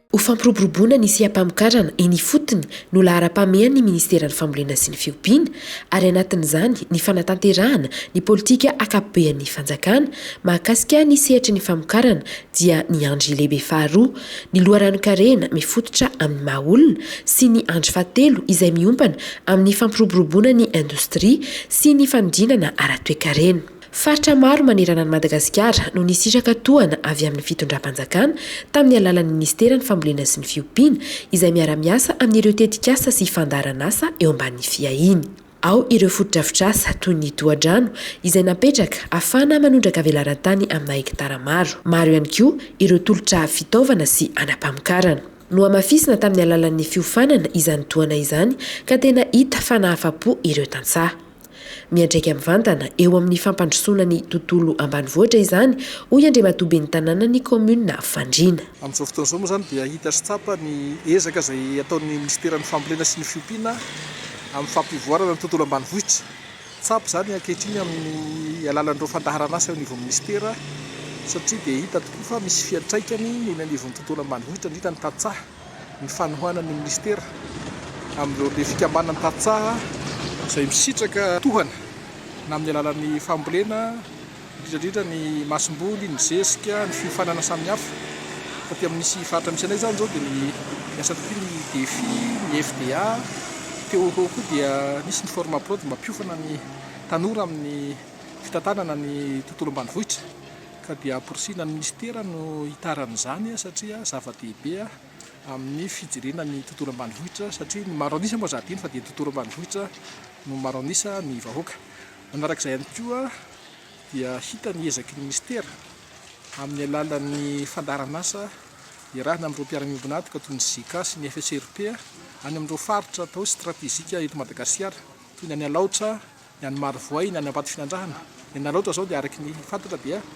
Ho fampiroboroboana ny seha-pamokarana eny ifotony no laharam-pahamehan'ny Ministeran'ny Fambolena sy ny Fiompiana ary anatin'izany ny fanatanterahana ny politika ankapobean'ny Fanjakana mahakasika ny sehatry ny famokarana dia ny andry lehibe faharoa, ny loharanon-karena mifototra amin'ny maha olona, sy ny andry fahatelo izay miompana amin'ny fampiroboroboana ny indostria sy ny fanodinana ara-toekarena. Faritra maro manerana an'i Madagasikara no nisitraka tohana avy amin'ny fitondram-panjakana tamin'ny alalan'ny minisiteran'ny Fambolena sy ny Fiompiana izay miara-miasa amin'ireo tetikasa sy fandaharanasa eo ambanin'ny fiahiany. Ao ireo fotodrafitrasa toy ny tohadrano izay napetraka afahana manondraka velaran-tany amina hektara maro. Maro ihany koa ireo tolotra fitaovana sy anam-pamokarana. Nohamafisina tamin'ny alalan'ny fiofanana izany tohana izany ka tena hita fa nahafa-po ireo tantsaha. Miantraika mivantana eo amin'ny fampandrosoana ny tontolo ambanivohitra izany, hoy Andriamatoa Ben'ny Tanànan'ny kaominina Fandriana. Amin'izao fotoana izao moa izany dia hita sy tsapa ny ezaka izay ataon'ny minisiteran'ny Fambolena sy ny fiompiana amin'ny fampivoarana ny tontolo ambanivohitra. Tsapa izany ankehitriny amin'ny alalan'ireo fandaharan'asa eo anivon'ny minisitera satria dia hita tokoa fa misy fiantraikany eny anivon'ny tontolo ambanivohitra indrindra ny tantsaha ny fanohanan'ny minisitera amin'ireo le fikambanan'ny tantsaha izay misitraka tohana na amin'ny alalan'ny fambolena indrindrandrindra ny masomboly, ny zezika, ny fiofanana samihafa. Taty amin' ny sy faritra misy anay izany izao dia ny niasa taty ny Defi, ny FDA, teo ho eo koa dia nisy ny Formaprod mba mpiofana ny tanora amin' ny fitantanana ny tontolo ambanivohitra ka dia amporisihina ny minisitera no hitarana izany satria zava-dehibe amin' ny fijerena ny tontolo ambanivohitra satria ny maro anisa moa zahadino fa dia ny tontolo ambanivohitra no maro anisa ny vahoaka. Manaraka izay ihany koa dia hita ny ezaky ny Minisitera amin'ny alalan'ny fandaharan'asa iarahana amin'ireo mpiara-miombon'antoka toy ny JICA sy ny FSRP any amin'ireo faritra atao hoe stratejika eto Madagasikara toy ny any Alaotra, ny any Marovoay, ny any Ambatofinandrahana. Ny any Alaotra izao dia araky ny fantatra dia.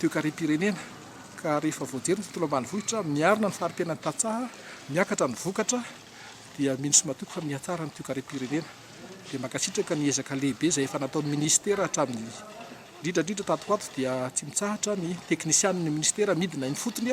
toekarem-pirenena ka rehefa voajery ny tontolo ambanivohitra miarina ny fari-piainan'ny tantsaha, miakatra ny vokatra dia mino sy matoky fa mihatsara ny toekarem-pirenena. Dia mankasitraka ny ezaka lehibe izay efa nataon'ny Ministera hatramin'ny indrindra indrindra tato ho ato dia tsy mitsahatra ny teknisianin'ny Ministera midina eny fotony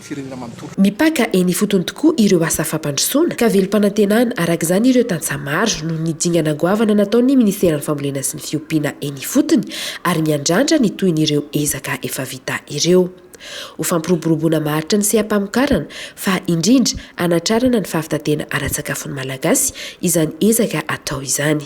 firenena manontolo. Mipaka eny ifotony tokoa ireo asa fampandrosoana ka velom-panantenana araka izany ireo tantsaha maro noho ny dingana goavana nataon'ny Ministeran'ny Fambolena sy ny Fiompiana eny ifotony ary miandrandra ny tohin'ireo ezaka efa vita ireo ho fampiroboroboana maharitra ny seha-pamokarana fa indrindra hanatrarana ny fahavitan-tena ara-tsakafon'ny Malagasy izany ezaka atao izany.